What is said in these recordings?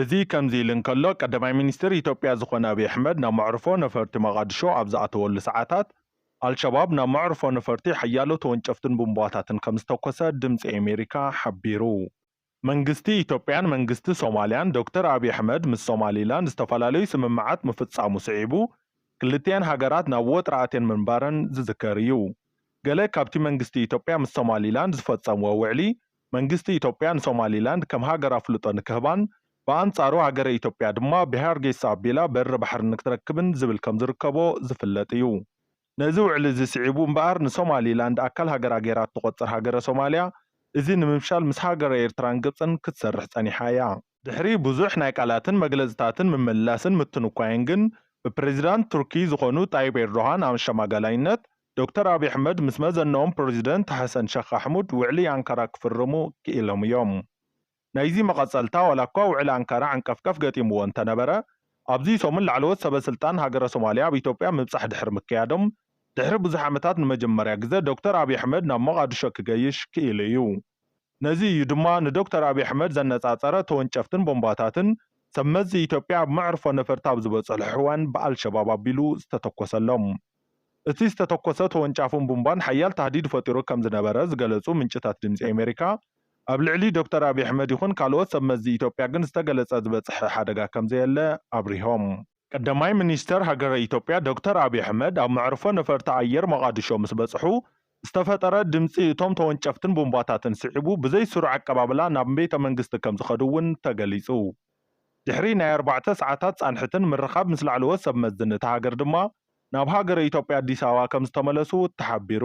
እዚ ከምዚ ኢሉ እንከሎ፣ ቀዳማይ ሚኒስተር ኢትዮጵያ ዝኾነ ኣብይ ኣሕመድ ናብ መዕርፎ ነፈርቲ መቓድሾ ኣብ ዝኣተወሉ ሰዓታት፣ ኣልሸባብ ናብ መዕርፎ ነፈርቲ ሓያሎ ተወንጨፍትን ቡምባታትን ከምዝተኮሰ ድምጺ ኣሜሪካ ሓቢሩ። መንግስቲ ኢትዮጵያን መንግስቲ ሶማልያን፣ ዶክተር ኣብይ ኣሕመድ ምስ ሶማሊላንድ ዝተፈላለዩ ስምምዓት ምፍጻሙ ስዒቡ፣ ክልቲኤን ሃገራት ናብ ወጥሪ ኣትየን ምንባረን ዝዝከር እዩ። ገለ ካብቲ መንግስቲ ኢትዮጵያ ምስ ሶማሊላንድ ዝፈጸምዎ ውዕሊ፣ መንግስቲ ኢትዮጵያ ንሶማሊላንድ ከም ሃገር ኣፍልጦ ንክህባን ብኣንጻሩ ሃገረ ኢትዮጵያ ድማ ብሃርጌሳ ኣቢላ በሪ ባሕሪ ንክትረክብን ዝብል ከም ዝርከቦ ዝፍለጥ እዩ። ነዚ ውዕሊ እዚ ስዒቡ እምበኣር ንሶማሊላንድ ኣካል ሃገራ ገይራ እትቖጽር ሃገረ ሶማልያ እዚ ንምፍሻል ምስ ሃገረ ኤርትራን ግብጽን ክትሰርሕ ጸኒሓ እያ። ድሕሪ ብዙሕ ናይ ቃላትን መግለጽታትን ምምልላስን ምትንኳይን ግን፣ ብፕረዚዳንት ቱርኪ ዝኾኑ ጣይብ ኤርዶሃን ኣሸማጋላይነት፣ ዶክተር ኣብይ ኣሕመድ ምስ መዘነኦም ፕረዚደንት ሐሰን ሸኽ ኣሕሙድ ውዕሊ ኣንካራ ክፍርሙ ክኢሎም እዮም። ናይዚ መቐጸልታ ዋላኳ ውዕሊ ኣንካራ ዕንቀፍቀፍ ገጢምዎ እንተነበረ፣ ኣብዚ ሰሙን ላዕለዎት ሰበስልጣን ሃገረ ሶማልያ ኣብ ኢትዮጵያ ምብጻሕ ድሕሪ ምክያዶም፣ ድሕሪ ብዙሕ ዓመታት ንመጀመርያ ግዘ ዶክተር ኣብይ ኣሕመድ ናብ ሞቓድሾ ክገይሽ ክኢሉ እዩ። ነዚ እዩ ድማ ንዶክተር ኣብይ ኣሕመድ ዘነፃፀረ ተወንጨፍትን ቦምባታትን ሰብ መዚ ኢትዮጵያ ኣብ መዕርፎ ነፈርቲ ኣብ ዝበፅሕሑ እዋን ብኣልሸባብ ኣቢሉ ዝተተኮሰሎም። እቲ ዝተተኮሰ ተወንጫፍን ቡምባን ሓያል ታህዲድ ፈጢሩ ከምዝነበረ ዝገለፁ ምንጭታት ድምፂ ኣሜሪካ ኣብ ልዕሊ ዶክተር ኣብይ ኣሕመድ ይኹን ካልኦት ሰብ መዚ ኢትዮጵያ ግን ዝተገለፀ ዝበፅሐ ሓደጋ ከምዘየለ ኣብሪሆም። ቀዳማይ ሚኒስተር ሃገረ ኢትዮጵያ ዶክተር ኣብዪ ኣሕመድ ኣብ መዕርፎ ነፈርቲ ኣየር ሞቓድሾ ምስ በጽሑ፣ ዝተፈጠረ ድምጺ እቶም ተወንጨፍትን ቡምባታትን ስዒቡ ብዘይ ስሩዕ ኣቀባብላ ናብ ቤተ መንግስቲ ከም ዝኸዱ እውን ተገሊጹ። ድሕሪ ናይ ኣርባዕተ ሰዓታት ጻንሕትን ምርኻብ ምስ ላዕለዎት ሰብ መዝን እታ ሃገር ድማ ናብ ሃገረ ኢትዮጵያ ኣዲስ ኣበባ ከም ዝተመለሱ ተሓቢሩ።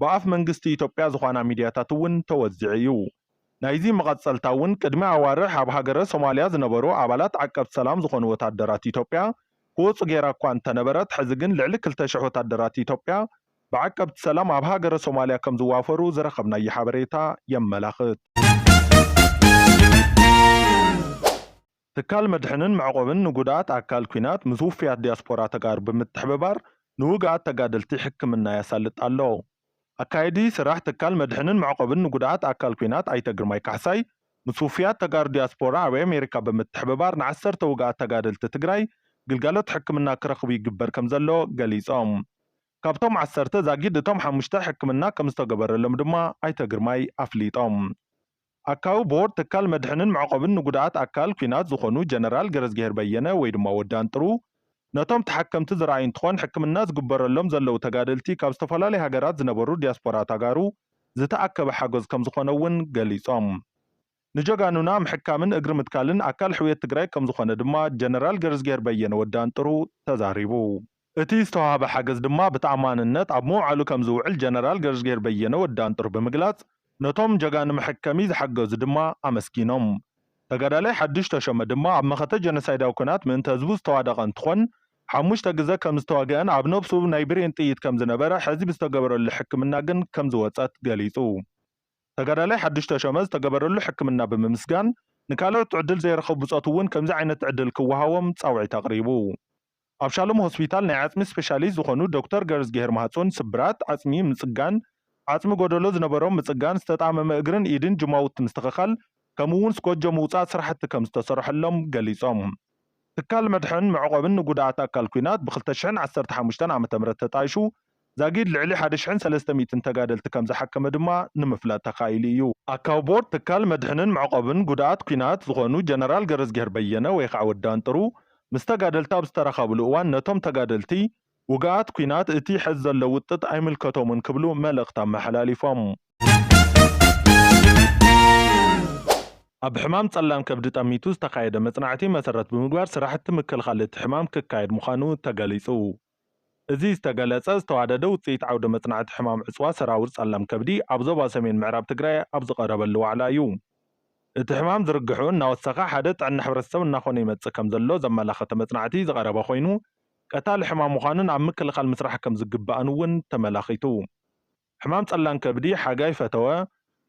ብኣፍ መንግስቲ ኢትዮጵያ ዝኾና ሚድያታት እውን ተወዚዑ እዩ። ናይዚ መቐፀልታ እውን ቅድሚ ኣዋርሕ ኣብ ሃገረ ሶማሊያ ዝነበሩ ኣባላት ዓቀብቲ ሰላም ዝኾኑ ወታደራት ኢትዮጵያ ክወፁ ገይራ እኳ እንተነበረት ሕዚ ግን ልዕሊ ክልተ ሽሕ ወታደራት ኢትዮጵያ ብዓቀብቲ ሰላም ኣብ ሃገረ ሶማሊያ ከምዝዋፈሩ ዝረኸብናዮ ሓበሬታ የመላኽት። ትካል መድሕንን መዕቖብን ንጉድኣት ኣካል ኲናት ምስ ውፉያት ዲያስፖራ ተጋሩ ብምትሕብባር ንውግኣት ተጋደልቲ ሕክምና ያሳልጥ ኣሎ። ኣካየዲ ስራሕ ትካል መድሕንን መዕቖብን ንጉድኣት ኣካል ኲናት ኣይተ ግርማይ ካሕሳይ ምስ ውፉያት ተጋሩ ዲያስፖራ ኣብ ኣሜሪካ ብምትሕብባር ንዓሰርተ ውግኣት ተጋደልቲ ትግራይ ግልጋሎት ሕክምና ክረኽቡ ይግበር ከምዘሎ ገሊፆም። ካብቶም ዓሰርተ ዛጊድ እቶም ሓሙሽተ ሕክምና ከምዝተገበረሎም ድማ ኣይተ ግርማይ ኣፍሊጦም። ኣካቢ ቦርድ ትካል መድሕንን መዕቆብን ንጉዳኣት ኣካል ኩናት ዝኾኑ ጀነራል ገረዝጊሄር በየነ ወይ ድማ ወዲ ኣንጥሩ ነቶም ተሓከምቲ ዝረኣዩ እንትኾን ሕክምና ዝግበረሎም ዘለዉ ተጋደልቲ ካብ ዝተፈላለዩ ሃገራት ዝነበሩ ዲያስፖራ ታጋሩ ዝተኣከበ ሓገዝ ከምዝኾነ እውን ገሊፆም። ንጀጋኑና ምሕካምን እግሪ ምትካልን ኣካል ሕውየት ትግራይ ከምዝኾነ ድማ ጀነራል ገረዝጊሄር በየነ ወዲ ኣንጥሩ ተዛሪቡ። እቲ ዝተዋህበ ሓገዝ ድማ ብተኣማንነት ኣብ ምውዓሉ ከምዝውዕል ጀነራል ገረዝጊሄር በየነ፣ ወዲ ኣንጥር፣ ብምግላፅ፣ ነቶም ጀጋኑ መሐከሚ ዝሓገዙ ድማ ኣመስጊኖም። ተጋዳላይ ሓዱሽ ተሾመ ድማ ኣብ መኸተ ጀኖሳይዳዊ ኩናት ምእንተ ህዝቡ ዝተዋደቐ እንትኾን፣ ሓሙሽተ ግዘ ከምዝተወገኣን ኣብ ነብሱ ናይ ብሬን ጥይት ከምዝነበረ ሐዚ ብዝተገበረሉ ሕክምና ግን ከምዝወፀት ገሊፁ። ተጋዳላይ ሓዱሽ ተሾመ ዝተገበረሉ ሕክምና ብምምስጋን፣ ንካልኦት ዕድል ዘይረኸቡ ብፆት እውን ከምዚ ዓይነት ዕድል ክወሃቦም ፃውዒት ኣቕሪቡ። ኣብ ሻሎም ሆስፒታል ናይ ዓፅሚ ስፔሻሊስት ዝኾኑ ዶክተር ገረዝጊሄር ማህፁን ስብራት ዓፅሚ ምፅጋን፣ ዓፅሚ ጎደሎ ዝነበሮም ምፅጋን፣ ዝተጣመመ እግርን ኢድን ጅማውቲ ምስትኽኻል ከምኡ እውን ስኮጆ ምውፃእ ስራሕቲ ከምዝተሰርሐሎም ገሊፆም። ትካል መድሕን መዕቖብን ንጉድኣት ኣካል ኲናት ብ ክልተ ሽሕን ዓሰርተ ሓሙሽተን ዓመተ ምህረት ተጣይሹ ዛጊድ ልዕሊ ሓደ ሽሕን ሰለስተ ሚእትን ተጋደልቲ ከም ዝሓከመ ድማ ንምፍላጥ ተኻኢሉ እዩ። ኣካቢ ቦርድ ትካል መድሕንን መዕቖብን ጉዳኣት ኲናት ዝኾኑ ጀነራል ገረዝጊሄር በየነ ወይ ከዓ ወዲ ኣንጥሩ ምስ ተጋደልቲ ኣብ ዝተራኻብሉ እዋን ነቶም ተጋደልቲ ውግኣት ኲናት እቲ ሐዚ ዘሎ ውጥጥ ኣይምልከቶምን ክብሉ መልእኽቲ ኣመሓላሊፎም። ኣብ ሕማም ፀላም ከብዲ ጠሚቱ ዝተኻየደ መፅናዕቲ መሰረት ብምግባር ስራሕቲ ምክልኻል እቲ ሕማም ክካየድ ምዃኑ ተገሊፁ። እዚ ዝተገለፀ ዝተዋደደ ውፅኢት ዓውደ መፅናዕቲ ሕማም ዕፅዋ ሰራውር ፀላም ከብዲ ኣብ ዞባ ሰሜን ምዕራብ ትግራይ ኣብ ዝቐረበሉ ዋዕላ እዩ። እቲ ሕማም ዝርግሕኡ እናወሰኸ ሓደ ጥዕና ሕብረተሰብ እናኾነ ይመፅእ ከምዘሎ ዘመላኸተ መፅናዕቲ ዝቐረበ ኮይኑ ቀታሊ ሕማም ምዃኑን ኣብ ምክልኻል ምስራሕ ከምዝግባእን እውን ተመላኺቱ። ሕማም ፀላም ከብዲ ሓጋይ ፈተወ፣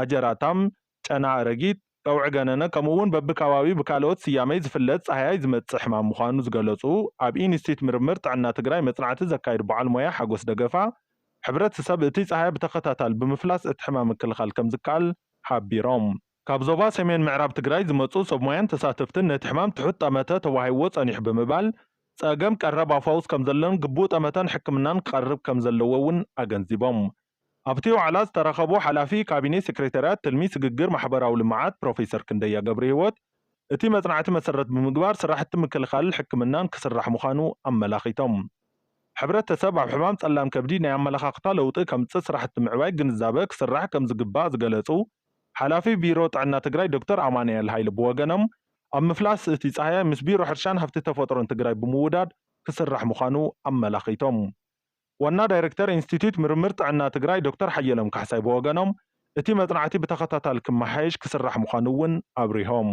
ኣጀራታም፣ ጨና ኣረጊት፣ ጠውዒ ገነነ ከምኡ እውን በቢከባቢኡ ብካልኦት ስያሜ ዝፍለጥ ፃህያይ ዝመፅእ ሕማም ምዃኑ ዝገለፁ ኣብ ኢንስቲትዩት ምርምር ጥዕና ትግራይ መፅናዕቲ ዘካይዱ በዓል ሞያ ሓጎስ ደገፋ ሕብረተሰብ እቲ ፃህያይ ብተኸታታሊ ብምፍላስ እቲ ሕማም ምክልኻል ከምዝከኣል ሓቢሮም። ካብ ዞባ ሰሜን ምዕራብ ትግራይ ዝመፅኡ ሰብ ሞያን ተሳተፍትን ነቲ ሕማም ትሑት ጠመተ ተዋሂብዎ ፀኒሑ ብምባል ፀገም ቀረብ ኣፋውስ ከምዘሎን ግቡእ ጠመተን ሕክምናን ክቐርብ ከምዘለዎ እውን ኣገንዚቦም። ኣብቲ ዋዕላ ዝተረኸቡ ሓላፊ ካቢኔ ሴክሬታሪያት ትልሚ ስግግር ማሕበራዊ ልምዓት ፕሮፌሰር ክንደያ ገብርሂወት፣ እቲ መፅናዕቲ መሰረት ብምግባር ስራሕቲ ምክልኻልን ሕክምናን ክስራሕ ምዃኑ ኣመላኺቶም። ሕብረተሰብ ኣብ ሕማም ፀላም ከብዲ ናይ ኣመለኻኽታ ለውጢ ከምፅእ ስራሕቲ ምዕባይ ግንዛበ ክስራሕ ከምዝግባእ ዝገለፁ ሓላፊ ቢሮ ጥዕና ትግራይ ዶክተር ኣማንኤል ሃይለ ብወገኖም ኣብ ምፍላስ እቲ ፃህያይ ምስ ቢሮ ሕርሻን ሃፍቲ ተፈጥሮን ትግራይ ብምውዳድ ክስራሕ ምዃኑ ኣመላኺቶም። ዋና ዳይሬክተር ኢንስቲትዩት ምርምር ጥዕና ትግራይ ዶክተር ሓየሎም ካሕሳይ ብወገኖም፣ እቲ መፅናዕቲ ብተኸታታሊ ክመሓየሽ ክስራሕ ምዃኑ እውን ኣብሪሆም።